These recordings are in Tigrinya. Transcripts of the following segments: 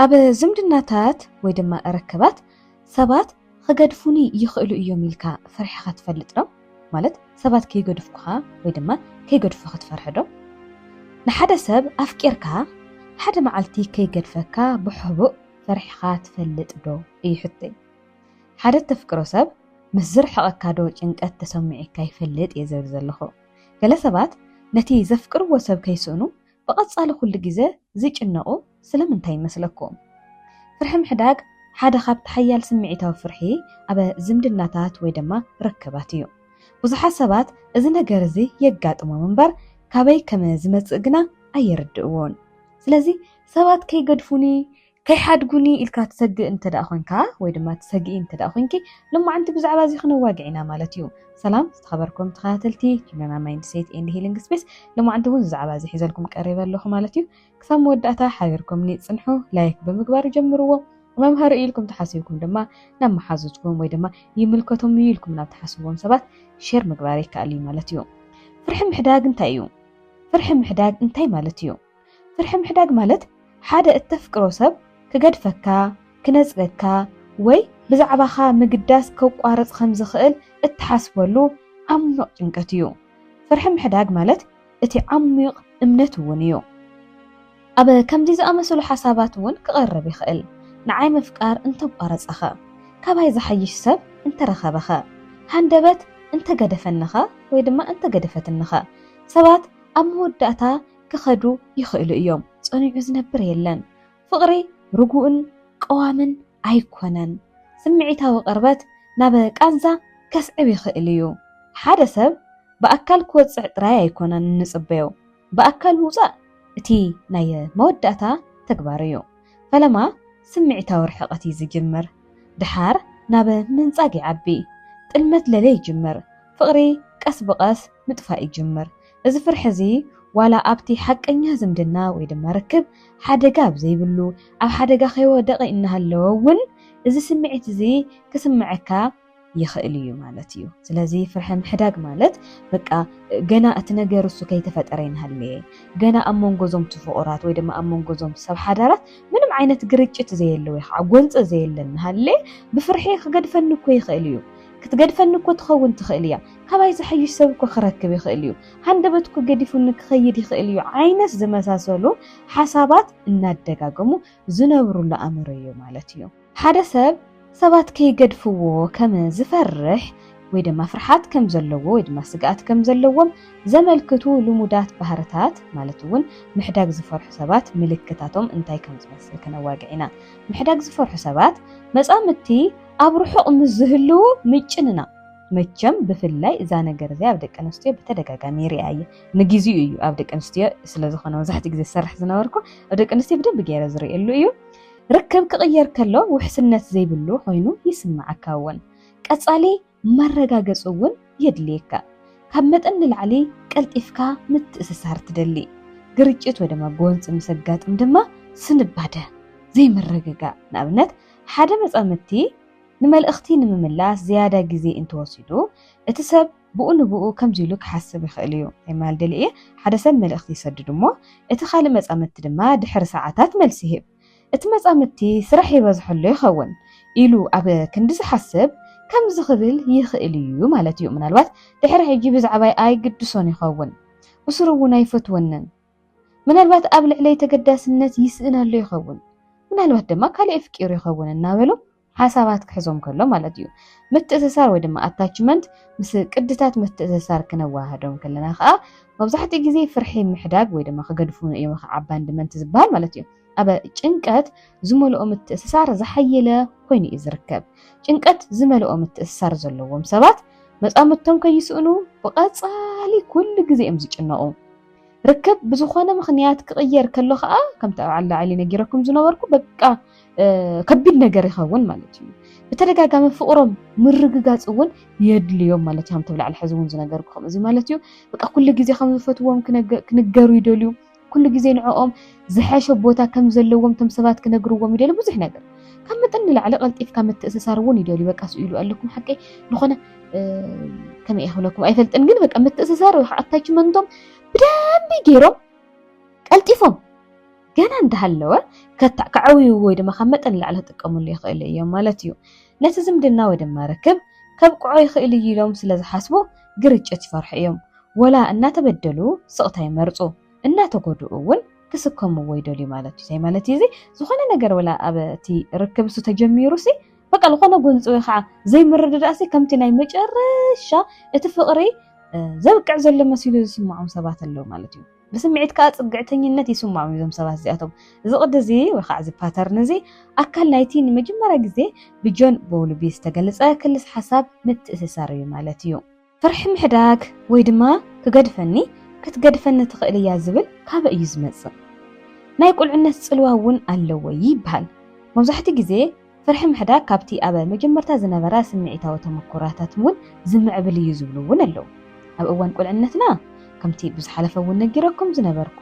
ኣብ ዝምድናታት ወይ ድማ ርክባት ሰባት ኽገድፉኒ ይኽእሉ እዮም ኢልካ ፈሪሕኻ ትፈልጥ ዶ? ማለት ሰባት ከይገድፍኩኻ ወይ ድማ ከይገድፉ ክትፈርሕ ዶ? ንሓደ ሰብ ኣፍቂርካ ሓደ መዓልቲ ከይገድፈካ ብሕቡእ ፈሪሕኻ ትፈልጥ ዶ? እዩ ሕቶይ። ሓደ እተፍቅሮ ሰብ ምስ ዝርሕቐካ ዶ ጭንቀት ተሰሚዒካ ይፈልጥ እየ ዝብል ዘለኹ። ገለ ሰባት ነቲ ዘፍቅርዎ ሰብ ከይስእኑ ብቐጻሊ ኩሉ ግዜ ዚጭነቑ ስለምንታይ ይመስለኩም? ፍርሒ ምሕዳግ ሓደ ኻብቲ ሓያል ስምዒታዊ ፍርሒ ኣብ ዝምድናታት ወይ ድማ ርክባት እዩ። ብዙሓት ሰባት እዚ ነገር እዚ የጋጥሞም እምበር፣ ካበይ ከም ዚመጽእ ግና ኣይርድእዎን። ስለዚ፣ ሰባት ከይገድፉኒ፣ ከይሓድጉኒ ኢልካ ትሰግእ እንተደኣ ኮንካ ወይ ድማ ትሰግኢ እንተደኣ ኮንኪ ሎማዓንቲ ብዛዕባ እዚ ክነዋግዕ ኢና ማለት እዩ። ሰላም ዝተኸበርኩም ተኸታተልቲ ሂሎና ማይንድ ሴት ኤንድ ሂሊንግ ስፔስ ሎማዓንቲ እውን ብዛዕባ እዚ ሒዘልኩም ቀሪበ ኣለኹ ማለት እዩ። ክሳብ መወዳእታ ሓቢርኩምኒ ጽንሑ፣ ላይክ ብምግባር ጀምርዎ። መምሃሪ እዩ ኢልኩም ተሓሲብኩም ድማ ናብ መሓዙትኩም ወይ ድማ ይምልከቶም እዩ ኢልኩም ናብ ተሓስብዎም ሰባት ሼር ምግባር ይከኣል እዩ ማለት እዩ። ፍርሒ ምሕዳግ እንታይ እዩ? ፍርሒ ምሕዳግ እንታይ ማለት እዩ? ፍርሒ ምሕዳግ ማለት ሓደ እተፍቅሮ ሰብ ክገድፈካ፣ ክነጽገካ፣ ወይ ብዛዕባኻ ምግዳስ ከቋርጽ ከም ዝኽእል እትሓስበሉ ዓሚቕ ጭንቀት እዩ። ፍርሒ ምሕዳግ ማለት እቲ ዓሚቕ እምነት እውን እዩ። ኣብ ከምዚ ዝኣመሰሉ ሓሳባት እውን ክቐርብ ይኽእል፣ ንዓይ ምፍቃር እንተ ኣቋረጸኸ? ካባይ ዝሓይሽ ሰብ እንተ ረኸበኸ? ሃንደበት እንተ ገደፈኒኸ ወይ ድማ እንተ ገደፈትኒኸ? ሰባት ኣብ መወዳእታ ክኸዱ ይኽእሉ እዮም። ጸኒዑ ዝነብር የለን። ፍቕሪ ርጉእን ቀዋምን ኣይኮነን። ስምዒታዊ ቅርበት ናብ ቃንዛ ከስዕብ ይኽእል እዩ። ሓደ ሰብ ብኣካል ክወጽዕ ጥራይ ኣይኮነን እንጽበዮ። ብኣካል ምውጻእ እቲ ናይ መወዳእታ ተግባር እዩ። ፈለማ ስምዒታዊ ርሕቐት እዩ ዝጅምር። ድሓር ናብ ምንጻግ ይዓቢ። ጥልመት ለለ ይጅምር። ፍቕሪ ቀስ ብቐስ ምጥፋእ ይጅምር። እዚ ፍርሒ እዚ ዋላ ኣብቲ ሓቀኛ ዝምድና ወይ ድማ ርክብ ሓደጋ ኣብ ዘይብሉ ኣብ ሓደጋ ከይወደቐ እናሃለወ እውን እዚ ስምዒት እዚ ክስመዐካ ይኽእል እዩ ማለት እዩ። ስለዚ ፍርሒ ምሕዳግ ማለት በቃ ገና እቲ ነገር እሱ ከይተፈጠረ ይንሃለየ ገና ኣብ መንጎ እዞም ትፍቑራት ወይ ድማ ኣብ መንጎ እዞም ሰብ ሓዳራት ምንም ዓይነት ግርጭት ዘየለ ወይ ከዓ ጎንፂ ዘየለ እናሃለየ ብፍርሒ ክገድፈኒ እኮ ይኽእል እዩ ክትገድፈኒ እኮ ትኸውን ትኽእል እያ ካባይ ዝሓይሽ ሰብ እኮ ክረክብ ይኽእል እዩ፣ ሃንደበት እኮ ገዲፉኒ ክኸይድ ይኽእል እዩ ዓይነት ዝመሳሰሉ ሓሳባት እናደጋገሙ ዝነብሩሉ ኣእምሮ እዩ ማለት እዩ። ሓደ ሰብ ሰባት ከይገድፍዎ ከም ዝፈርሕ ወይ ድማ ፍርሓት ከም ዘለዎ ወይ ድማ ስግኣት ከም ዘለዎም ዘመልክቱ ልሙዳት ባህርታት ማለት እውን ምሕዳግ ዝፈርሑ ሰባት ምልክታቶም እንታይ ከም ዝመስል ክነዋግዕ ኢና። ምሕዳግ ዝፈርሑ ሰባት መጻምድቲ ኣብ ርሑቕ ምስ ዝህልዉ ምጭንናቕ መቸም ብፍላይ እዛ ነገር እዚኣ ኣብ ደቂ ኣንስትዮ ብተደጋጋሚ ይሪኣ እየ ንግዚኡ እዩ ኣብ ደቂ ኣንስትዮ ስለዝኾነ መብዛሕትኡ ግዜ ዝሰርሕ ዝነበርኩ ኣብ ደቂ ኣንስትዮ ብደንቢ ገይረ ዝርእየሉ እዩ ርክብ ክቕየር ከሎ ውሕስነት ዘይብሉ ኮይኑ ይስምዓካ እውን ቀጻሊ መረጋገጺ እውን የድልየካ ካብ መጠን ንላዕሊ ቀልጢፍካ ምትእስሳር ትደሊ ግርጭት ወይ ድማ ጎንፂ ምስ ኣጋጥም ድማ ስንባደ ዘይምርግጋእ ንኣብነት ሓደ መጻምድቲ ንመልእኽቲ ንምምላስ ዝያዳ ግዜ እንተወሲዱ፣ እቲ ሰብ ብኡ ንብኡ ከምዚ ኢሉ ክሓስብ ይኽእል እዩ፣ ናይ ምባል ደልየ እየ። ሓደ ሰብ መልእኽቲ ይሰድድ እሞ እቲ ካልእ መጻምድቲ ድማ ድሕሪ ሰዓታት መልሲ ይህብ። እቲ መጻምድቲ ስራሕ ይበዝሖ ኣሎ ይኸውን ኢሉ ኣብ ክንዲ ዝሓስብ ከምዚ ክብል ይኽእል እዩ ማለት እዩ፣ ምናልባት ድሕሪ ሕጂ ብዛዕባይ ኣይግድሶን ይኸውን፣ ብስሩ እውን ኣይፈትወንን። ምናልባት ኣብ ልዕለይ ተገዳስነት ይስእን ኣሎ ይኸውን ምናልባት ድማ ካልእ የፍቂሩ ይኸውን እናበሉ ሓሳባት ክሕዞም ከሎ ማለት እዩ። ምትእስሳር ወይ ድማ ኣታችመንት ምስ ቅድታት ምትእስሳር ክነዋህዶም ከለና ከዓ መብዛሕትኡ ግዜ ፍርሒ ምሕዳግ ወይ ድማ ክገድፉ እዮም ከዓ ኣባንድመንት ዝበሃል ማለት እዩ። ኣብ ጭንቀት ዝመልኦ ምትእስሳር ዝሓየለ ኮይኑ እዩ ዝርከብ። ጭንቀት ዝመልኦ ምትእስሳር ዘለዎም ሰባት መፃምድቶም ከይስእኑ ብቐፃሊ ኩሉ ግዜ እዮም ዝጭነቑ። ርክብ ብዝኾነ ምኽንያት ክቕየር ከሎ ከዓ ከምቲ ኣብ ዓላዓሊ ነጊረኩም ዝነበርኩ በቃ ከቢድ ነገር ይኸውን ማለት እዩ። ብተደጋጋሚ ፍቕሮም ምርግጋፅ እውን የድልዮም ማለት እዩ። ከምቲ ብላዕሊ ሕዚ እውን ዝነገርኩ ከምዚ ማለት እዩ። በቃ ኩሉ ግዜ ከም ዝፈትዎም ክንገሩ ይደልዩ። ኩሉ ግዜ ንዕኦም ዝሐሸ ቦታ ከም ዘለዎም እቶም ሰባት ክነግርዎም ይደልዩ ብዙሕ ነገር ካብ መጠን ንላዕሊ ቀልጢፍካ ምትእስሳር እውን ይደልዩ። በቃ ስኢሉ ኣለኩም ሓቀይ ዝኾነ ከመይ ክብለኩም ኣይፈልጥን፣ ግን በቃ ምትእስሳር ወይ ኣታችመንቶም ብደንቢ ገይሮም ቀልጢፎም ገና እንዳሃለወ ከዕውዩ ወይ ድማ ካብ መጠን ላዕሊ ክጥቀምሉ ይኽእሉ እዮም ማለት እዩ። ነቲ ዝምድና ወይ ድማ ርክብ ከብቅዖ ይኽእል እዩ ኢሎም ስለ ዝሓስቡ ግርጭት ይፈርሑ እዮም። ወላ እናተበደሉ ስቕታ ይመርፁ፣ እናተጎድኡ እውን ክስከምዎ ይደልዩ ማለት እዩ። እንታይ ማለት እዩ እዚ? ዝኾነ ነገር ወላ ኣብ እቲ ርክብ እሱ ተጀሚሩ ሲ በቃ ዝኾነ ጎንፂ ወይ ከዓ ዘይምርድዳእሲ ከምቲ ናይ መጨረሻ እቲ ፍቕሪ ዘብቅዕ ዘሎ መሲሉ ዝስምዖም ሰባት ኣለዉ ማለት እዩ ብስምዒት ከዓ ፅግዕተኝነት ይስምዖም እዩ እዞም ሰባት እዚኣቶም እዚ ቅዲ እዚ ወይ ከዓ እዚ ፓተርን እዚ ኣካል ናይቲ ንመጀመርያ ግዜ ብጆን ቦውልቢ ዝተገልፀ ክልስ ሓሳብ ምትእስሳር እዩ ማለት እዩ ፍርሒ ምሕዳግ ወይ ድማ ክገድፈኒ ክትገድፈኒ ትኽእል እያ ዝብል ካበይ እዩ ዝመጽእ? ናይ ቁልዕነት ጽልዋ እውን ኣለዎ ይበሃል። መብዛሕትኡ ግዜ ፍርሒ ምሕዳግ ካብቲ ኣብ መጀመርታ ዝነበራ ስምዒታዊ ተመኩሮታት እውን ዝምዕብል እዩ ዝብሉ እውን ኣለዉ። ኣብ እዋን ቁልዕነትና ከምቲ ብዝሓለፈ እውን ነጊረኩም ዝነበርኩ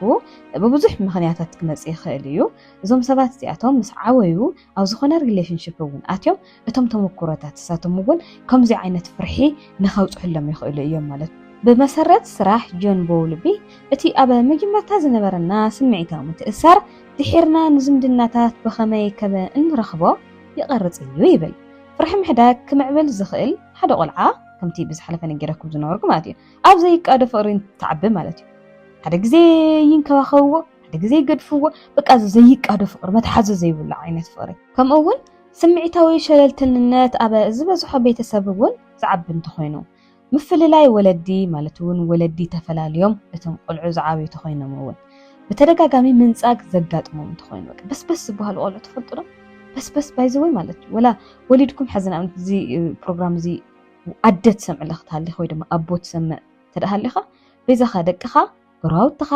ብብዙሕ ምኽንያታት ክመጽእ ይኽእል እዩ። እዞም ሰባት እዚኣቶም ምስ ዓበዩ ኣብ ዝኾነ ሪሌሽንሽፕ እውን ኣትዮም እቶም ተመኩሮታት እሳቶም እውን ከምዚ ዓይነት ፍርሒ ንኸብፅሕሎም ይኽእሉ እዮም ማለት እዩ። ብመሰረት ስራሕ ጆን ቦውልቢ፣ እቲ ኣብ መጀመርታ ዝነበረና ስምዒታዊ ምትእስሳር ድሒርና ንዝምድናታት ብኸመይ ከመ እንረኽቦ ይቐርፅ እዩ ይብል። ፍርሒ ምሕዳግ ክምዕብል ዝኽእል ሓደ ቆልዓ ከምቲ ብዝሓለፈ ነጊረኩም ዝነበርኩ ማለት እዩ ኣብ ዘይቃዶ ፍቕሪ እንትዓቢ ማለት እዩ። ሓደ ግዜ ይንከባኸብዎ፣ ሓደ ግዜ ይገድፍዎ በቃ ዘይቃዶ ፍቅሪ መትሓዚ ዘይብሉ ዓይነት ፍቅሪ ከምኡ እውን ስምዒታዊ ሸለልትንነት ኣብ ዝበዝሖ ቤተሰብ እውን ዝዓቢ እንተኾይኑ ምፍልላይ ወለዲ ማለት እውን ወለዲ ተፈላልዮም እቶም ቆልዑ ዝዓብዩ ተኾይኖም እውን ብተደጋጋሚ ምንጻግ ዘጋጥሞም እንተኾይኑ በስበስ ዝበሃሉ ቆልዑ ትፈልጡ ዶ በስበስ ባይዘወይ ማለት እዩ ወላ ወሊድኩም ሕዚ ንኣብነት እዚ ፕሮግራም እዚ ኣደ ትሰምዕ ኣለኽ ትሃሊኻ ወይ ድማ ኣቦ ትሰምዕ ተደሃሊኻ ቤዛኻ ደቅኻ ጎረባብትኻ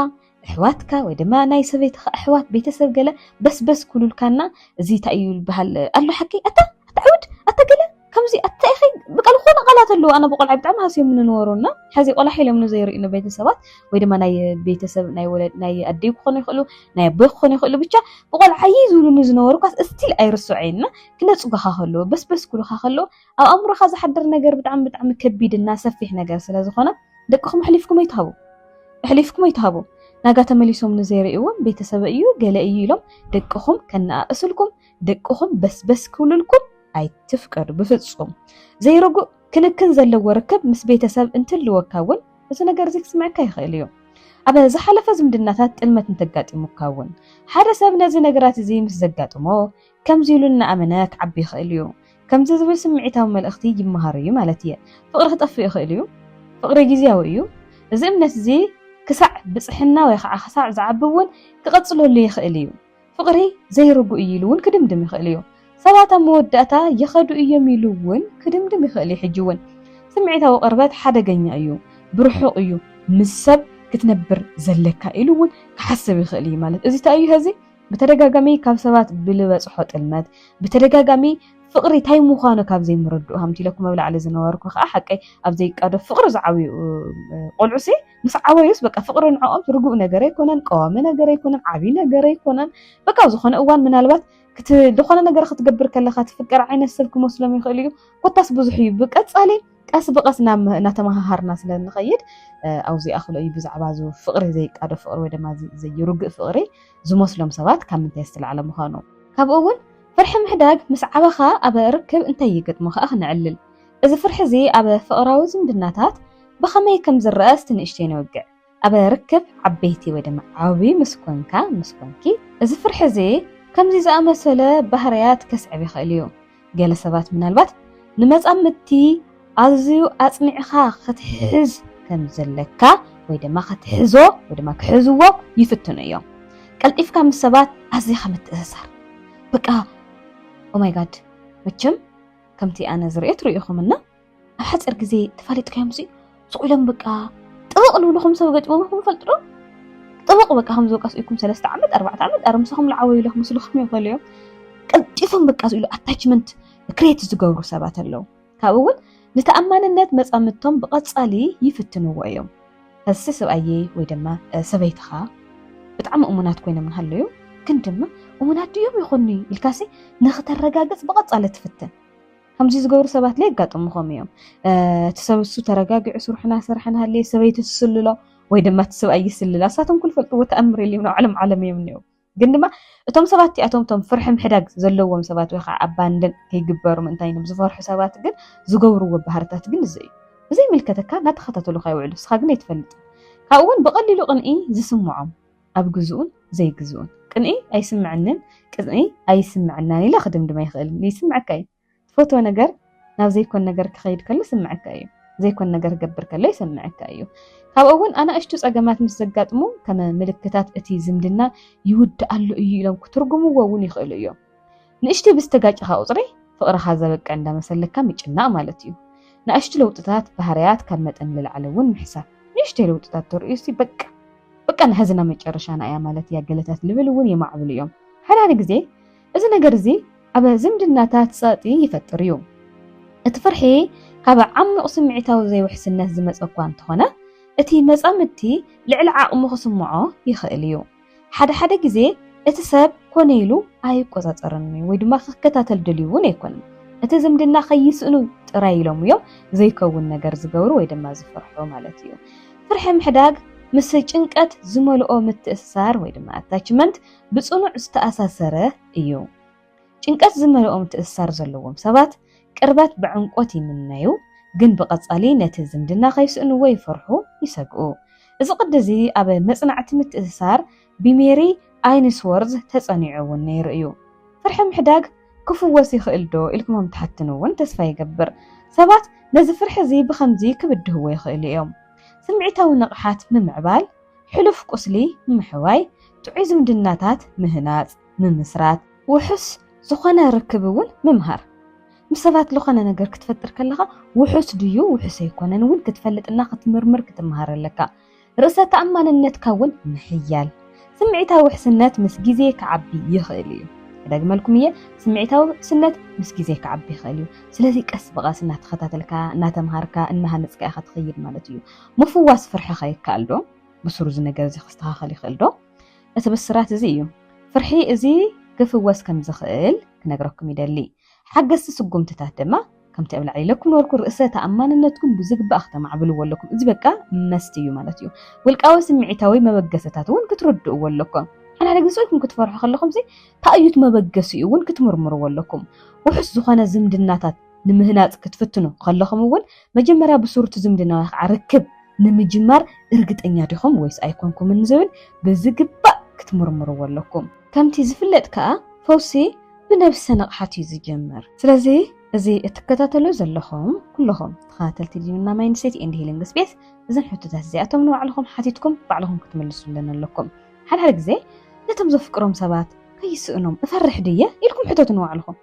እሕዋትካ ወይ ድማ ናይ ሰበይትኻ እሕዋት ቤተሰብ ገለ በስ በስ ኩሉልካና እዚ ታይ እዩ ልበሃል ኣሎ ሓቀይ ኣታ ኣታ ዕውድ ኣታ ገለ ከምዚ ኣታ ኢኺ ብቃ ልኾነ ቃላት ኣለዉ ኣነ ብቆልዓይ ብጣዕሚ ሃስዮምኒ ንበሩ እና ሐዚ ቆላሕ ኢሎምኒ ዘይርእዩኒ ቤተሰባት ወይ ድማ ናይ ቤተሰብ ናይ ወለድ ናይ ኣደይ ክኾኑ ይኽእሉ ናይ ኣቦይ ክኾኑ ይኽእሉ ብቻ ብቆልዓይ ዝብሉኒ ዝነበሩ ኳስ እስቲል ኣይርስዖይ እና ክነጽጉኻ ከለዉ በስ በስ ኩሉኻ ከለዉ ኣብ ኣእምሮኻ ዝሓድር ነገር ብጣዕሚ ብጣዕሚ ከቢድ እና ሰፊሕ ነገር ስለ ዝኾነ ደቅኹም ኣሕሊፍኩም ኣይትሃቡ ኣሕሊፍኩም ኣይትሃቡ ናጋ ተመሊሶም ንዘይርእይዎም ቤተሰበ እዩ ገለ እዩ ኢሎም ደቅኹም ከነኣእስልኩም ደቅኹም በስበስ ክብልልኩም ኣይትፍቀዱ ብፍጹም ዘይርጉእ ክንክን ዘለዎ ርክብ ምስ ቤተሰብ እንትልወካ እውን እዚ ነገር እዚ ክስምዐካ ይኽእል እዩ ኣብ ዝሓለፈ ዝምድናታት ጥልመት እንተጋጢሙካ እውን ሓደ ሰብ ነዚ ነገራት እዚ ምስ ዘጋጥሞ ከምዚ ኢሉ እናኣመነ ክዓቢ ይኽእል እዩ። ከምዚ ዝብል ስምዒታዊ መልእኽቲ ይመሃሩ እዩ ማለት እየ። ፍቕሪ ክጠፍእ ይኽእል እዩ። ፍቕሪ ግዝያዊ እዩ። እዚ እምነት እዚ ክሳዕ ብጽሕና ወይ ኸዓ ክሳዕ ዝዓቢ እውን ክቕጽለሉ ይኽእል እዩ። ፍቕሪ ዘይርጉእ እዩ ኢሉ እውን ክድምድም ይኽእል እዩ። ሰባት ኣብ መወዳእታ ይኸዱ እዮም ኢሉ እውን ክድምድም ይኽእል እዩ። ሕጂ እውን ስምዒታዊ ቅርበት ሓደገኛ እዩ። ብርሑቕ እዩ ምስ ሰብ ክትነብር ዘለካ ኢሉ እውን ክሓስብ ይኽእል እዩ ማለት እዚ ታይ እዩ ሀዚ ብተደጋጋሚ ካብ ሰባት ብልበጽሖ ጥልመት፣ ብተደጋጋሚ ፍቕሪ ታይ ምዃኑ ካብ ዘይምርድኡ ከምቲ ኢለኩም ኣብ ላዕሊ ዝነበርኩ ከኣ ሓቀይ ኣብ ዘይቃዶ ፍቕሪ ዝዓብዩ ቆልዑሲ ምስ ዓበዩስ በቃ ፍቕሪ ንዕኦም ርጉእ ነገር ኣይኮነን፣ ቀዋሚ ነገር ኣይኮነን፣ ዓብዪ ነገር ኣይኮነን። በቃ ኣብ ዝኾነ እዋን ምናልባት ዝኾነ ነገር ክትገብር ከለኻ ትፍቀር ዓይነት ሰብ ክመስሎም ይኽእል እዩ። ኮታስ ብዙሕ እዩ። ብቀጻሊ ቀስ ብቐስ እናተመሃሃርና ስለ እንኸይድ ኣብዚ ይኣኽሎ እዩ ብዛዕባ እዚ ፍቕሪ ዘይቃዶ ፍቕሪ ወይ ድማ ዘይርግእ ፍቕሪ ዝመስሎም ሰባት ካብ ምንታይ ዝተላዕለ ምዃኑ ካብኡ እውን ፍርሒ ምሕዳግ ምስ ዓበኻ ኣብ ርክብ እንታይ ይገጥሞ ከዓ ክንዕልል እዚ ፍርሒ እዚ ኣብ ፍቕራዊ ዝምድናታት ብኸመይ ከም ዝረአ እስቲ ንእሽተይ ነወግዕ ኣብ ርክብ ዓበይቲ ወይ ድማ ዓብዪ ምስ ኮንካ ምስ ኮንኪ እዚ ፍርሒ እዚ ከምዚ ዝኣመሰለ ባህርያት ከስዕብ ይኽእል እዩ። ገለ ሰባት ምናልባት ንመጻምድቲ ኣዝዩ ኣጽኒዕኻ ክትሕዝ ከም ዘለካ ወይ ድማ ክትሕዞ ወይ ድማ ክሕዝዎ ይፍትኑ እዮም። ቀልጢፍካ ምስ ሰባት ኣዚኻ ምትእስሳር በቃ ኦማይ ጋድ መቸም ከምቲ ኣነ ዝርእዮ ትርእዩኹምና ኣብ ሓፂር ግዜ ተፋሊጥካዮም ሲ ሱቕ ኢሎም በቃ ጥብቕ ልብልኹም ሰብ ገጢሞም ኢኹም ፈልጡ ዶ ጥብቕ በቃ ከም ዝወቃ ስኢኩም ሰለስተ ዓመት ኣርባዕተ ዓመት ኣረ ምሳኹም ልዓወዩ ኢለ ክመስልኹም ይኽእሉ እዮም ቀልጢፎም በቃ ስኢሉ ኣታችመንት ክሬት ዝገብሩ ሰባት ኣለዉ ካብኡ እውን ንተኣማንነት መፃምድቶም ብቐፃሊ ይፍትንዎ እዮም ከዚ ሰብኣየ ወይ ድማ ሰበይትኻ ብጣዕሚ እሙናት ኮይኖም ንሃለዩ ግን ድማ እሙናት ድዮም ይኾኑ ኢልካሲ ንኽተረጋግፅ ብቐፃሊ ትፍትን ከምዚ ዝገብሩ ሰባት ላይ የጋጥሙኹም እዮም እቲ ሰብ እሱ ተረጋጊዑ ስርሑ ናሰርሐ ናሃለየ ሰበይቲ ትስልሎ ወይ ድማ እቲ ሰብኣይ ይስልላ ንሳቶም ኩሉ ፈልጥዎ ተኣምር የልዮም ናብ ዓለም ዓለም እዮም እኒኦ ግን ድማ እቶም ሰባት እቲኣቶም እቶም ፍርሒ ምሕዳግ ዘለዎም ሰባት ወይ ከዓ ኣባንደን ከይግበሩ ምእንታይ ኢሎም ዝፈርሑ ሰባት ግን ዝገብርዎ ባህርታት ግን እዚ እዩ ብዘይምልከተካ እናተኸታተሉካ ይውዕሉ ንስኻ ግን ኣይትፈልጥን ካብኡ እውን ብቐሊሉ ቅንኢ ዝስምዖም ኣብ ግዝኡን ዘይግዝኡን ቅንኢ ኣይስምዐንን ቅንኢ ኣይስምዐናን ኢለ ክድምድም ኣይኽእልን። ይስምዐካ እዩ። ትፈትዎ ነገር ናብ ዘይኮን ነገር ክኸይድ ከሎ ይስምዐካ እዩ። ዘይኮን ነገር ክገብር ከሎ ይሰምዐካ እዩ። ካብኡ እውን ኣናእሽቱ ፀገማት ምስ ዘጋጥሙ ከም ምልክታት እቲ ዝምድና ይውድኣሉ እዩ ኢሎም ክትርጉምዎ እውን ይኽእሉ እዮም። ንእሽተይ ብዝተጋጨኻ ቁፅሪ ፍቕርኻ ዘበቅዕ እንዳመሰለካ ምጭናቕ ማለት እዩ። ንኣሽቱ ለውጥታት ባህርያት ካብ መጠን ንላዕሊ እውን ምሕሳብ። ንእሽተይ ለውጥታት ተርእዩሲ በቃ በቃ ንሐዝና መጨረሻና እያ ማለት እያ ገለታት ልብል እውን የማዕብሉ እዮም። ሓደ ሓደ ግዜ እዚ ነገር እዚ ኣብ ዝምድናታት ፀቕጢ ይፈጥር እዩ። እቲ ፍርሒ ካብ ዓሚቕ ስምዒታዊ ዘይውሕስነት ዝመፀ እኳ እንተኾነ እቲ መፃምድቲ ልዕሊ ዓቕሙ ክስምዖ ይኽእል እዩ። ሓደ ሓደ ግዜ እቲ ሰብ ኮነ ኢሉ ኣይቆጻጸርን እዩ ወይ ድማ ክከታተል ድልዩ እውን ኣይኮነን። እቲ ዝምድና ከይስእኑ ጥራይ ኢሎም እዮም ዘይከውን ነገር ዝገብሩ ወይ ድማ ዝፍርሑ ማለት እዩ። ፍርሒ ምሕዳግ ምስ ጭንቀት ዝመልኦ ምትእስሳር ወይ ድማ ኣታችመንት ብጽኑዕ ዝተኣሳሰረ እዩ። ጭንቀት ዝመልኦ ምትእስሳር ዘለዎም ሰባት ቅርበት ብዕምቈት ይምነዩ፣ ግን ብቐጻሊ ነቲ ዝምድና ከይስእንዎ ይፈርሑ፣ ይሰግኡ። እዚ ቅዲ እዚ ኣብ መጽናዕቲ ምትእስሳር ብሜሪ ኣይንስዎርዝ ተጸኒዑ እውን ነይሩ እዩ። ፍርሒ ምሕዳግ ክፍወስ ይኽእልዶ ኢልኩምም ትሓትኑ እውን ተስፋ ይገብር። ሰባት ነዚ ፍርሒ እዚ ብኸምዚ ክብድህዎ ይኽእሉ እዮም፣ ስምዒታዊ ንቕሓት ምምዕባል፣ ሕሉፍ ቍስሊ ምሕዋይ፣ ጥዑይ ዝምድናታት ምህናጽ። ምምስራት፣ ውሑስ ዝኾነ ርክብ እውን ምምሃር፣ ምስ ሰባት ልኾነ ነገር ክትፈጥር ከለኻ ውሑስ ድዩ ውሑስ ኣይኮነን እውን ክትፈልጥ እና ክትምርምር ክትምሃር ኣለካ። ርእሰ ተኣማንነትካ እውን ምሕያል። ስምዒታዊ ውሕስነት ምስ ግዜ ክዓቢ ይኽእል እዩ። ክደግመልኩም እየ፣ ስምዒታዊ ውሕስነት ምስ ግዜ ክዓቢ ይኽእል እዩ። ስለዚ ቀስ ብቐስ እናተኸታተልካ፣ እናተምሃርካ፣ እናሃነጽካ ኢኻ ትኸይድ ማለት እዩ። ምፍዋስ ፍርሕኻ ይከኣል ዶ? ብሱሩ እዚ ነገር እዚ ክስተኻኸል ይኽእል ዶ? እቲ ብስራት እዚ እዩ። ፍርሒ እዚ ክፍወስ ከም ዝኽእል ክነግረኩም ይደሊ። ሓገዝቲ ስጉምትታት ድማ ከምቲ ኣብ ላዕሊ ኢለኩም ነበርኩ ርእሰ ተኣማንነትኩም ብዝግባእ ክተማዕብልዎ ኣለኩም። እዚ በቃ መስት እዩ ማለት እዩ። ውልቃዊ ስምዒታዊ መበገሰታት እውን ክትርድእዎ ኣለኩም። ሓድሓደ ግዜ ኢልኩም ክትፈርሑ ከለኹም ሲ ታይ እዩ እቲ መበገሲኡ እውን ክትምርምርዎ ኣለኩም። ውሑስ ዝኾነ ዝምድናታት ንምህናጽ ክትፍትኑ ከለኹም እውን መጀመርያ ብሱሩ'ቲ ዝምድናዊ ክዓ ርክብ ንምጅማር እርግጠኛ ዲኹም ወይስ ኣይኮንኩምን ንዝብል ብዝግባእ ክትምርምርዎ ኣለኩም። ከምቲ ዝፍለጥ ክዓ ፈውሲ ብነብሰ ንቕሓት እዩ ዝጅምር። ስለዚ እዚ እትከታተሉ ዘለኹም ኩሉኹም ተኸታተልቲ ሊኑና ማይንድሴት ኤንድ ሂሊንግ ስፔስ እዞም ሕቶታት እዚኣቶም ንባዕልኹም ሓቲትኩም ባዕልኹም ክትምልሱለን ኣለኩም። ሓድሓደ ግዜ ነቶም ዘፍቅሮም ሰባት ከይስእኖም እፈርሕ ድየ ኢልኩም ሕተቱ ንባዕልኹም።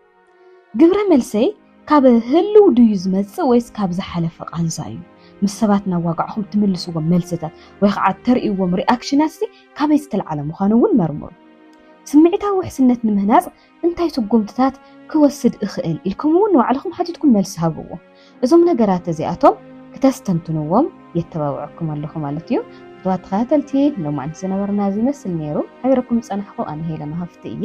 ግብረ መልሰይ ካብ ህልው ድዩ ዝመጽእ ወይስ ካብ ዝሓለፈ ቃንዛ እዩ? ምስ ሰባት እናዋጋዕኹም እትምልስዎም መልስታት ወይ ከዓ እተርእይዎም ሪኣክሽናት ሲ ካበይ ዝተልዓለ ምዃኑ እውን መርምሩ። ስምዒታዊ ውሕስነት ንምህናፅ እንታይ ስጉምትታት ክወስድ እኽእል ኢልኩም እውን ንባዕልኹም ሓቲትኩም መልሲ ሃብዎ። እዞም ነገራት እዚኣቶም ክተስተንትንዎም የተባብዐኩም ኣለኹ ማለት እዩ። ክቡራት ተኸታተልቲ ሎማዕንቲ ዝነበረና እዚ ይመስል ነይሩ። ሓቢረኩም ዝፀናሕኹ ኣነ ሄለን ሃፍቲ እየ።